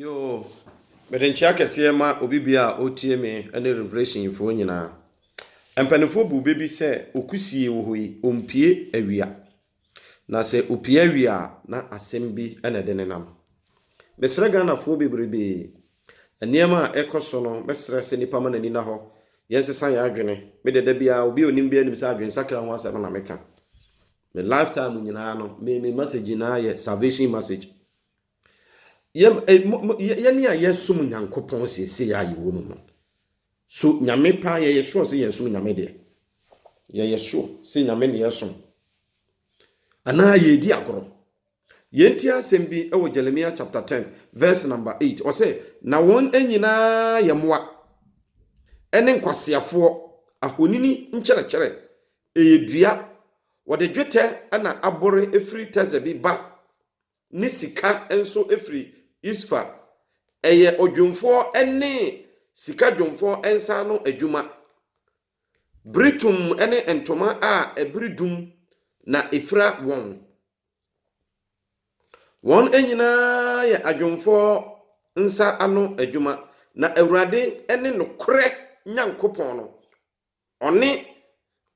Yoo! Mede nkyea kɛseɛ ma obi biaa a ɔretie me ɛne Revelation foɔ nyinaa. Mpaninfoɔ buu bɛ bi sɛ okusie wɔ hɔ yi ɔmpie awia. Na sɛ ɔpie awia a na asɛm bi na ɛde ne nam. Mesrɛ Ghanafoɔ bebrebee, nneɛma a ɛkɔ so no mɛsrɛ sɛ nipa ma n'ani na hɔ, yɛn sesa yɛn adwene. Me deɛ da biaa obi a ɔnim biaa nim sɛ adwensakra ho asɛm na meka. Me life time nyinaa no me me message nyinaa yɛ salvation message. Yɛm eh, mo, mo, yɛ- yɛne a yɛsom nyankopɔn seesei a yɛwɔ mu no so nyame paa yɛyɛ sure sɛ yɛsom nyame deɛ yɛyɛ sure sɛ nyame ne yɛsom anaa yɛredi agorɔ yɛnti asɛm bi wɔ jeremia chapter 10 verse number 8 ɔsɛ na wɔn nyinaa yɛ mmoa ɛne nkwaseafoɔ ahonini nkyerɛkyerɛ ɛyɛ dua wɔde dwetɛ na abore ɛfiri tɛsɛ bi ba ne sika nso firi Yusfa, ɛyɛ odwumfoɔ ne sika dwumfoɔ nsa ano adwuma, bere tum ne ntoma a ɛbere dum na ɛfira wɔn. Wɔn nyinaa yɛ adwumfoɔ nsa ano adwuma, na Awurade ne nokorɛ Nyankopɔn no, Ɔne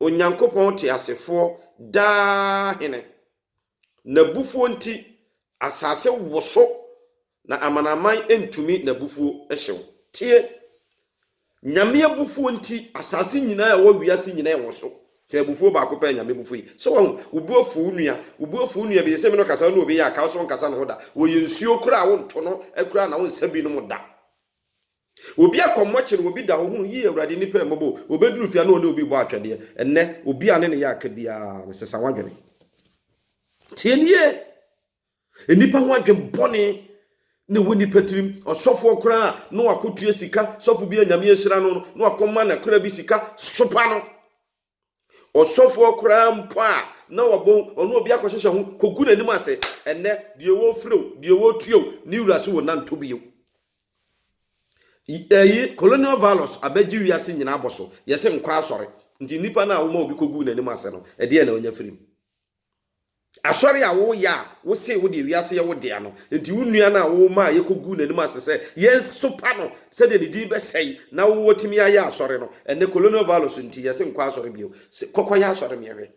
Onyankopɔn teasefoɔ daa Hene. N'abufuo nti, asase woso, na amanaman ntumi n'abufuo hyew. Tie! Nyame abufuo nti, asase nyinaa a ɛwɔ wiase nyinaa woso. Hwɛ abufuo baako pɛ a Nyame bu fu yi. Sɛ wahu, wo bo afu wo nua, wo bo afu wo nua bi, sɛ me no kasa ne obi yɛ a, kaw sɛ ɔnkasa ne ho da. Wɔyɛ nsuo koraa a wonto no akuraa na wonsa binom da. Obi akɔ mmɔkye no, obi da hɔ hunu, Yiw, Awurade, nnipa remmɔbɔ o. Obeduru fie a na ɔne obi rebɔ atwɛdeɛ. Ɛnnɛ, obi a ne ne yɛ aka biara no, sesa w'adwene. Tie no yie. Nnipa ho adwene bɔne na ɛwɔ nnipa tirim. Ɔsɔfoɔ koraa a na wakɔtua sika, sɔfo bi a Nyame ahyira no no, na wakɔma n'akoraa bi sika sopa no. Ɔsɔfoɔ koraa mpo a na wabɔ ɔno obi akɔhyehyɛ ho kɔgu n'anim ase. Ɛnnɛ, deɛ wɔrefiri o, deɛ wɔretua o, ne wura se wɔnnantɔ bio. Ɛyi, colonial values abɛgye wiase nyinaa abɔ so. Yɛse nkwa asɔre. Nti nnipa no a woma obi kɔguu n'anim ase no, ɛdeɛn na ɔnya firim? Asɔre a woyɛ a wose wo deɛ wiase yɛ wo dea no, enti wo nua no a wo maa yɛkɔguu n'anim ase sɛ yɛnsopa no sɛdeɛ ne din bɛsɛe na wo watumi ayɛ asɔre no, ɛnnɛ colonial values nti yɛse nkɔ asɔre bio. Se kɔkɔyɛ asɔre meɛ hwɛ.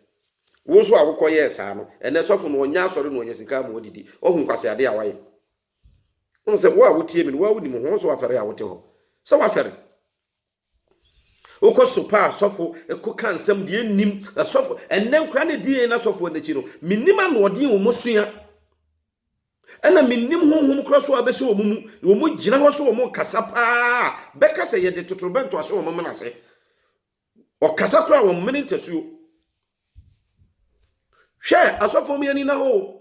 Wo nso a wokɔyɛɛ saa no, ɛnnɛ sɔfo no ɔnyɛ asɔre na ɔnya sika ama ɔdidi. Wahu nkwaseadeɛ a woayɛ? Wohu sɛ wo a wotie me no, wo ara wonim ho, wo nso wafɛre a wote hɔ sɛ wafɛre. Wokɔ so paa asɔfo ko ka nsɛm deɛ nnim asɔfo ɛnɛ nkora ne di yɛn asɔfo n'akyi no menim anoɔden wɔn sua ɛna menim honhom korɔ so a bɛhyɛ wɔn mu wɔn gyina hɔ so wɔn kasa paa bɛka sɛ yɛde totorobɛnto ahyɛ wɔn mena ase ɔkasa korɔ a wɔn mene ntasuo hwɛ asɔfo mi anina hɔ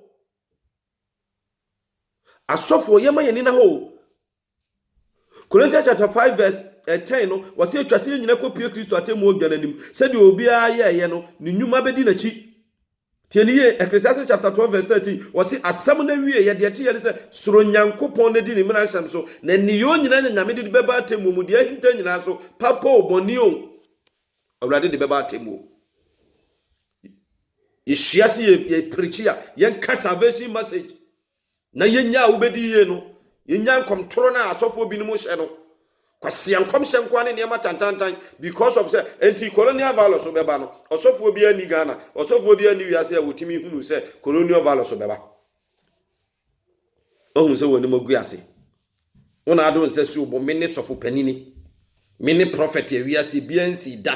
asɔfo yɛma yɛnina hɔ Corinthians chapter 5 verse 10 no, wɔse atwa sɛ yɛn nyina kɔpue Kristo atemmuo dwa no anim. Sɛdeɛ obiara yɛɛyɛ no, ne nnwuma bɛdi n'akyi. Tie no yie, Ecclesiastes chapter 12 verse 13, wɔse asɛm no awieeɛ, deɛ ɛteeɛ ne sɛ, soro Nyankopɔn na di ne mmara nhyɛm so, na nneyɛɛ nyinaa nya Nyame de de bɛba atemmuo mu, deɛ ahinta nyinaa so, papa o, bɔne o, Awurade de bɛba atemmuo. Yɛhyia se yɛ, yɛ preachi a, yɛnka salvation message. Na yɛnya a wobɛdi yie no, yɛnya nkɔmtoro no a asɔfoɔ binom hyɛ no, kwasia nkɔmhyɛ nkoa ne nneɛma tantantan because of sɛ ɛnti colonial values bɛba no, ɔsɔfoɔ biara nni Ghana, ɔsɔfoɔ biara nni wiase a wɔtumi hunu sɛ colonial values bɛba. Wahu sɛ wɔnim agu ase. Wo na ado nsa si wo bo, mene sɔfo panini, mene prɔfɛt a wiase biara nsii da.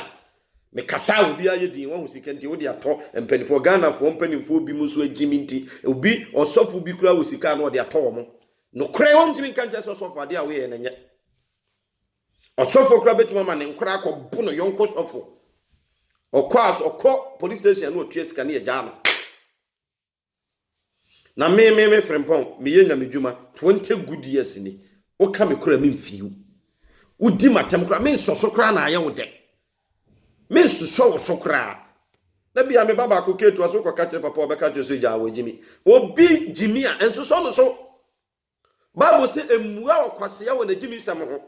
Mekasa a obiara yɛ din, wahu sika nti wode atɔ mpanimfoɔ. Ghanafoɔ mpanimfoɔ binom nso agye me nti, obi ɔsɔfo bi koraa wɔ sika a na ɔde atɔ wɔn. Nokorɛ wɔntumi nka nkyerɛ sɛ ɔsɔfo adeɛ a woyɛ yɛ na nyɛ. Ɔsɔfo koraa bɛtumi ama ne nkora akɔbo no yɔnko sɔfo. Ɔkɔ as ɔkɔ police station na ɔtua sika ne yɛgyaa no. Na me, me, me Frimpong, meyɛ nyamedwuma twenty good years ni. Woka me koraa memfii wo. Wodi m'atam koraa, mensɔ so koraa na ayɛ wo dɛ. Mensosɔ wo so koraa. Da bi a me ba baako ketewa so kɔka kyerɛ papa ɔbɛka kyerɛ so gyaa wɔ gyimi. Obi gyimi a, nsosɔ no so. Bible se mmua ɔkwasea wɔ n'agyimisɛm ho.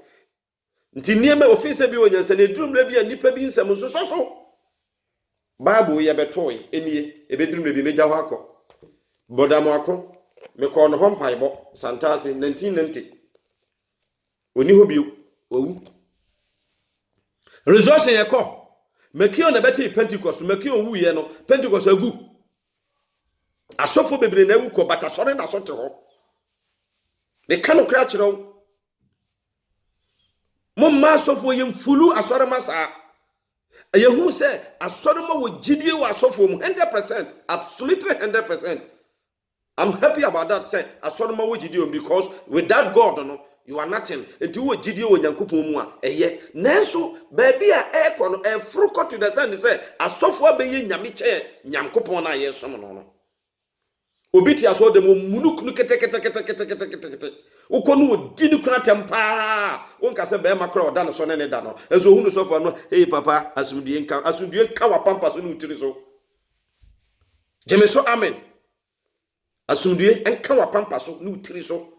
Nti nneɛma a ofii sɛ bi wɔ nyansa na eduru mmerɛ bi a nnipa bi nsɛm nsosɔ so. Bible yɛbɛtoe, enie, ɛbɛduru mmerɛ bi mɛgya hɔ akɔ. Brɔda Moako, mekɔɔ ne hɔ mpaebɔ, Santase, 1990. Ɔni hɔ bio, wawu. Resurrection yɛkɔ, Mekio na ɛbɛtee Pentecost, Mekio wuiɛ no, Pentecost agu. Asɔfo bebree na awu kɔ, but asɔre da so te hɔ. Meka no koraa kyerɛ wo, Momma asɔfoɔ yɛ mfulu asɔre ma saa. Ɛyɛ hu sɛ asɔre ma wɔ gyidie wɔ asɔfoɔ mu hundred percent absolutely hundred percent. I'm happy about that sɛ asɔre ma wɔ gyidie wɔn because without God no you are nothing. Nti wɔ gyidie wɔ Nyankopɔn mu a ɛyɛ. Nanso baabi a ɛrekɔ no ɛforo kɔ to the send sɛ asɔfoɔ abɛyɛ nyame kyɛn Nyankopɔn no a yɛresom no no. Obi te asɔɔdam wɔ munukunu keteketeketeketeketekete. Wokɔ no ɔdi ne kunu atɛm paa. Wonka sɛ bɛrima kora ɔda ne so ne ne da no. Ɛnso ɔhu no sɔfo ano, hei papa, asomdue nka. Asomdue nka wapampa so ne wo tiri so. Gyeme so amen. Asomdue nka wapampa so ne wo tiri so.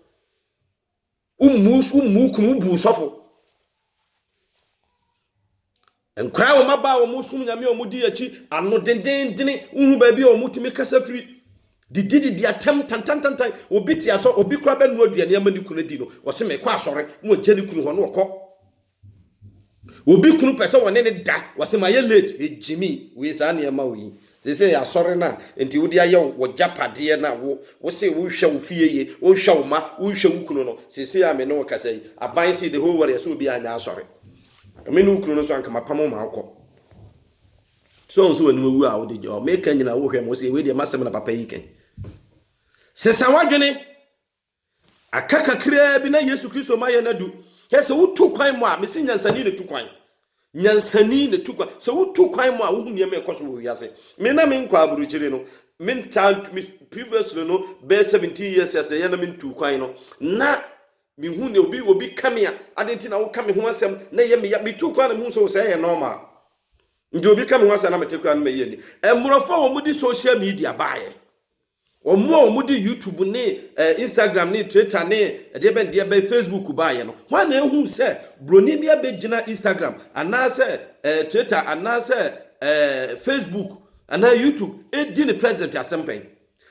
wommu wommu kunu wobu nsɔfo nkwaraa wɔn aba a wɔn som nyame a wɔn di akyi ano dendendene wohu baabi a wɔn tumi kasa firi didi didi atɛm tantantantan obi te asɔ obi kura bɛ nua aduane ama ne kunu di no wɔsi mekɔ asɔre na wɔgya ne kunu hɔ na wɔkɔ Obi kunu pɛ sɛ wɔne no da, wɔse mayɛ late, me Gyimii, wei saa nneɛma wei. Seesei asɔre no a nti wode ayɛ wo w'agyapadeɛ no a wo wose wohwɛ wo fie yie, wohwɛ wo mma, wohwɛ wo kunu no, seesei a me ne wo kasa yi, aban se the whole world ɛsɛ obiara nyɛ asɔre. Me ne wo kunu no nso anka mapam wo ma wokɔ. So wohu sɛ w'anim awu a wode gye hɔ. Meka nyina wohwɛ me, wose wei deɛ m'asɛm na papa yi ka yi. Sesa w'adwene. Aka kakraa bi na Yesu Kristo ma yɛn adu. Hɛ sɛ wotu kwan mu a, mesi nyansani na tu kwan. Nyansani na tu kwan. Sɛ wotu kwan mu a, wohu nneɛma ɛkɔ so wɔ wiase. Me na menkɔ aburukyiri no, mentaa ntu, me previously no, bɛyɛ 17 years a sɛ yɛ na mentu kwan no, na mehu nea obi obi ka me a, adɛn nti na woka me ho asɛm na ɛyɛ meya? Metu kwan na mehu sɛ sɛ ɛyɛ normal. Nti obi ka me ho asɛm na mete koraa no mɛyɛ ni. Mmorɔfo a wɔde social media baeɛ. Wɔn a wɔde YouTube ne Instagram ne Twitter ne deɛbɛn deɛbɛn Facebook baeɛ no, hwan na ɛhuu sɛ buroni bi abɛgyina Instagram anaasɛ Twitter anaasɛ Facebook anaa YouTube ɛdi ne president asɛmpɛn,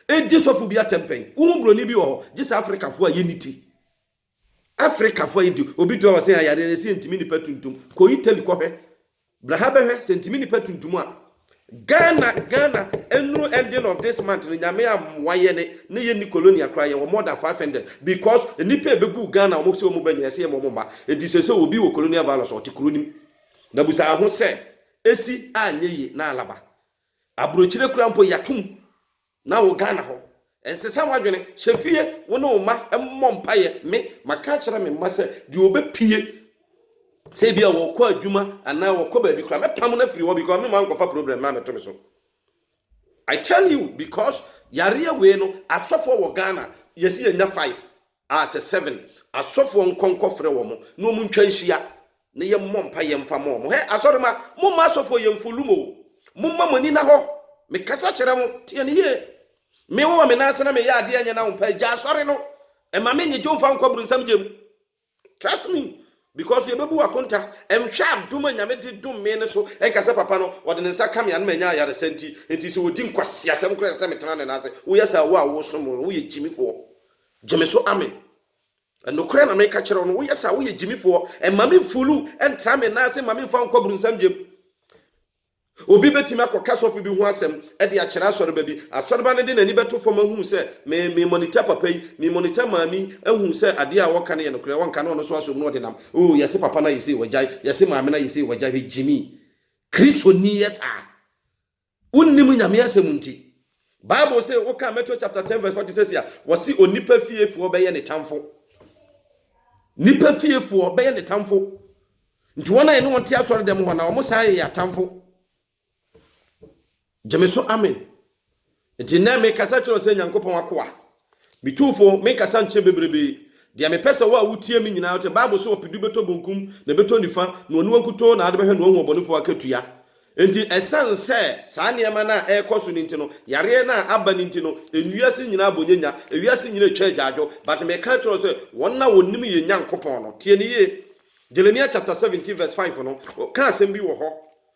ɛdi sɔfo bi atɛmpɛn? Wohu buroni bi wɔ hɔ, gye sɛ Afrikafoɔ a yɛnni ti. Africafo ayi nti obi tua ɔsen ayare na si ntimi nipa tuntum kɔ Italy kɔ hwɛ bra ha bɛhwɛ sɛ ntimi nipa tuntum a Ghana Ghana enuru ending of this month no nyame amoa yɛ ne ne yɛ ni colonia kora yɛ wɔ more than 500 because nipa ebegu Ghana wɔn sɛ wɔn ba nyina sɛ yɛ wɔn mma enti sɛ sɛ obi wɔ colonia virus ɔte kuro nim na busa ho sɛ esi anyɛ yi na alaba Aburokyire kura mpo yatom na wo Ghana hɔ nsesa wadwene hyɛ fie wo ne wo mma mmɔ mpaeɛ me maka akyerɛ me mma sɛ deɛ ɔbɛpie sɛ ebi a wɔkɔ adwuma anaa wɔkɔ baabi kora mɛpam no afiri hɔ because me ma nkɔfa problem na mɛto me so I tell you because yareɛ wei no asɔfoɔ wɔ Ghana yɛsi yɛnya five a sɛ seven asɔfoɔ nkɔ nkɔfrɛ wɔn na wɔn ntwa nhyia na yɛn mmɔ mpa yɛn mfa ma wɔn hɛ asɔre ma mo mma asɔfoɔ yɛn mfo lum o mo mma mo ani na hɔ me kasa kyerɛ mo teɛ ne yie me wɔ me nan ase na me yɛ adeɛ nyɛ na wɔn mpa gya asɔre no ɛma me nyegye mfa nkɔ brunsam gye mu trust me because yɛbɛbu wakonta ɛnhwɛ adom a nyame de dom me no so ɛnka sɛ papa no wɔde ne nsa ka me anoma ɛnya ayaresa nti nti sɛ wɔdi nkwasiasɛm koraa sɛ metena ne nan ase woyɛ saa wo a wosom woyɛ gyimifoɔ Gyimi so amen. Nokorɛ na meka kyerɛ wo no, woyɛ saa, woyɛ gyimifoɔ. Mma me nfulu ntra me nan ase, mma me nfa wo nkɔ bronsam gyem. Obi bɛtumi akɔka sɔfo bi ho asɛm de akyerɛ asɔreba bi. Asɔreba no de n'ani bɛto fam ahunu sɛ me me monitor papa yi, me monitor maame yi ahunu sɛ adeɛ a ɔreka no yɛ nokorɛ, ɔnka na ɔno nso asom na ɔde nam. Oo, yɛse papa no ayɛ sei, wagyae, yɛse maame no ayɛ sei, wagyae. Hwɛ gyimi. Kristoni yɛ saa. Wonnim Nyame asɛm nti. Bible se woka Matthew chapter 10 verse 46 a, wɔse onipa fiefoɔ bɛyɛ ne tamfo. Nipa fiefoɔ bɛyɛ ne tamfo. Nti wɔn a yɛne wɔn te asɔre dɛm hɔ na wɔn saa yɛ atamfo. Gyeme so amen. Nti nɛ mekasa kyerɛ sɛ Nyankopɔn akoa. Me Tumfo, menkasa nkyɛ bebrebe, deɛ mepɛ sɛ wo a wotie me nyinaa te. Bible se ɔpedu bɛtɔ bonkum na ɛbɛtɔ nifa, na oniwa nkutoo na ade bɛhwɛ na wahu ɔbɔnefoɔ akatua. Enti ɛsiane sɛ saa nneɛma no a ɛrekɔ so no nti no, yareɛ no a aba no nti no, ewiase nyinaa abɔ nyanya, ewiase nyinaa atwa agyaadwo. But meka kyerɛ wo sɛ, wɔn a wɔnim yɛn Nyankopɔn no, tie no yie. Jeremia chapter 17 verse 5 no, ɔka asɛm bi wɔ hɔ.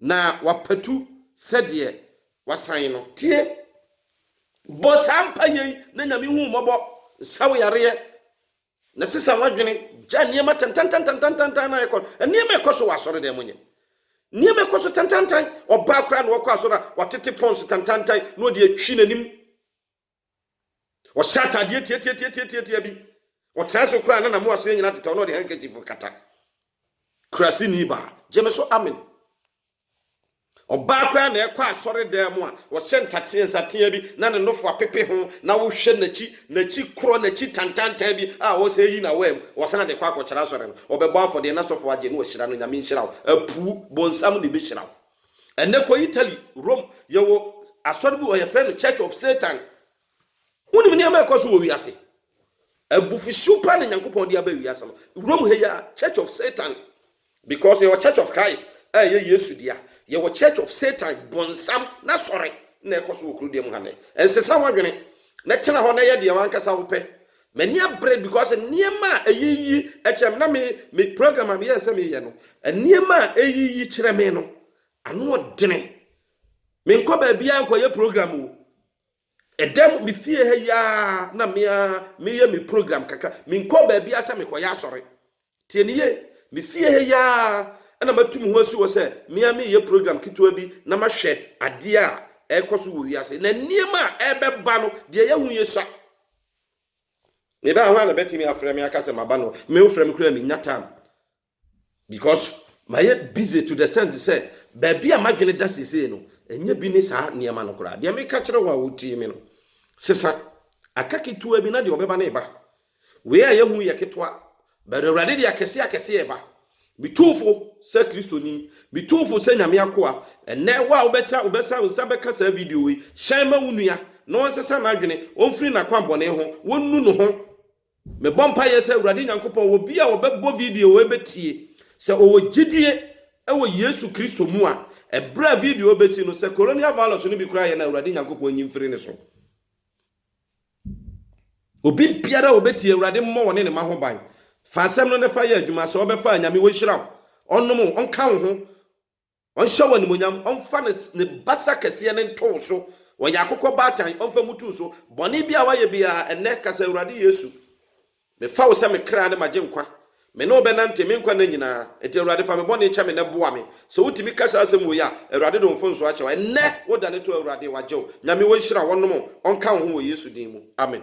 Na wapatu sɛdeɛ wasan no. Tie, bɔ saa mpaeɛ yi na Nyame hu wo mmɔbɔ, sa wo yareɛ, na sesa w'adwene, gya nneɛma tantantantantantan na ɛkɔ, nneɛma ɛkɔ so wɔ asɔre dan mu nyɛ. Nneɛma ɛkɔ so tantantan, ɔbaa koraa na ɔkɔ asɔre a, watete pɔns tantantan na ɔde atwi n'anim. ɔhyɛ atadeɛ tiatiatiatiatia bi ɔtena so koraa na na moaso nyina tetɛ ɔno ɔde handkerchief kata kuraseni baa gye me so amen ɔbaa koraa na ɛkɔ asɔre dan mu a ɔhyɛ ntateɛ nsateɛ bi na ne nofo apepe ho na wohwɛ n'akyi n'akyi korɔ n'akyi tantantan bi a ɔsɛ yi na wɔam ɔsan de kɔ akɔkyerɛ asɔre no ɔbɛbɔ afɔdeɛ na sɔfo agye no ɔhyira no nyame nhyira wo apu bonsam na ɛbɛhyira wo Ɛnnɛ kɔ Italy, Rome, yɛwɔ asɔre bi wɔ hɔ, yɛfrɛ no Church of Satan. Wonim nneɛma a ɛkɔ so wɔ wiase? Abufuhyew paa na Nyankopɔn de aba wiase no. Rome ha yi a, Church of Satan. Because yɛwɔ Church of Christ a ɛyɛ Yesu dea. Yɛwɔ Church of Satan, bonsam n'asɔre na ɛkɔ so wɔ kurodeɛ mu ha nnɛ. Ɛnsesa w'adwene na tena hɔ na yɛ deɛ w'ankasa wopɛ. M'ani abere because nneɛma a eyiyi kyerɛ me na me me program a meyɛɛ sɛ meyɛ no, nneɛma a eyiyi kyerɛ me no, ano ɔdene. Menkɔ baabiara nkɔyɛ program o. Ɛda mu me fie ha yi ara na me ara meyɛ me program kakra. Menkɔ baabiara sɛ mekɔyɛ asɔre. Tie no yie, Me fie ha yi ara na matu me ho asi hɔ sɛ me ara mereyɛ program ketewa bi na mahwɛ adeɛ a ɛrekɔ so wɔ wiase. Na nneɛma a ɛrebɛba no, deɛ yɛahu yɛ sua. Meba ha hwan na ɛbɛtumi afrɛ me aka sɛ maba no? Me wofrɛ me koraa mennya time because mayɛ busy to the sense sɛ baabi a m'adwene da seesei no, ɛnyɛ bi ne saa nneɛma no koraa. Deɛ meka kyerɛ wo a wotie me no, sesa aka ketewa bi na deɛ ɔbɛba no reba. Wei a yɛahu yi yɛ ketewa, but Awurade de akɛseɛ akɛseɛ reba. Metu fo sɛ Kristoni, metu fo sɛ Nyame akoa, ɛnnɛ wo a wobɛsa wobɛsa wo nsa bɛka saa video yi, hyɛn ma wo nua na ɔnsesa n'adwene, ɔmfiri n'akwammɔne ho, ɔnnu ne ho. Mebɔ mpaeɛ sɛ Awurade Nyankopɔn, obi a ɔbɛbɔ video yi bɛtie, sɛ ɔwɔ gyidie wɔ Yesu Kristo mu a, ɛberɛ a video yi bɛsi no, sɛ Coroniavirus no bi koraa yɛ no a, Awurade Nyankopɔn nyi mfiri ne so. Obi biara a ɔbɛtie Awurade mmɔ ɔne ne mma ho ban. Fa asɛm no na fa yɛ adwuma. Sɛ ɔbɛfa a, Nyame ɔnhyira wo, ɔnnom wo, ɔnka wo ho, ɔnhyɛ wo animuonyam, ɔmfa ne ne basa kɛseɛ no nto wo so, ɔyɛ akokɔ baatan, ɔmfa mmutu wo so. Bɔne biara a woayɛ biara, ɛnnɛ ka sɛ, Awurade Yesu, Mefa wo sɛ me kra ne m'agyenkwa, me ne wo bɛnante me nkwa nna nyinaa, enti Awurade fa me bɔne kyɛ me na boa me. Sɛ wotumi ka saa asɛm woi a, Awurade de wo mfomsoɔ akyɛ wo. Ɛnnɛ, wo dane to Awurade, wagye wo. Nyame ɔnhyira wo, ɔnom wo, ɔnka wo ho wɔ Yesu din mu. Amen.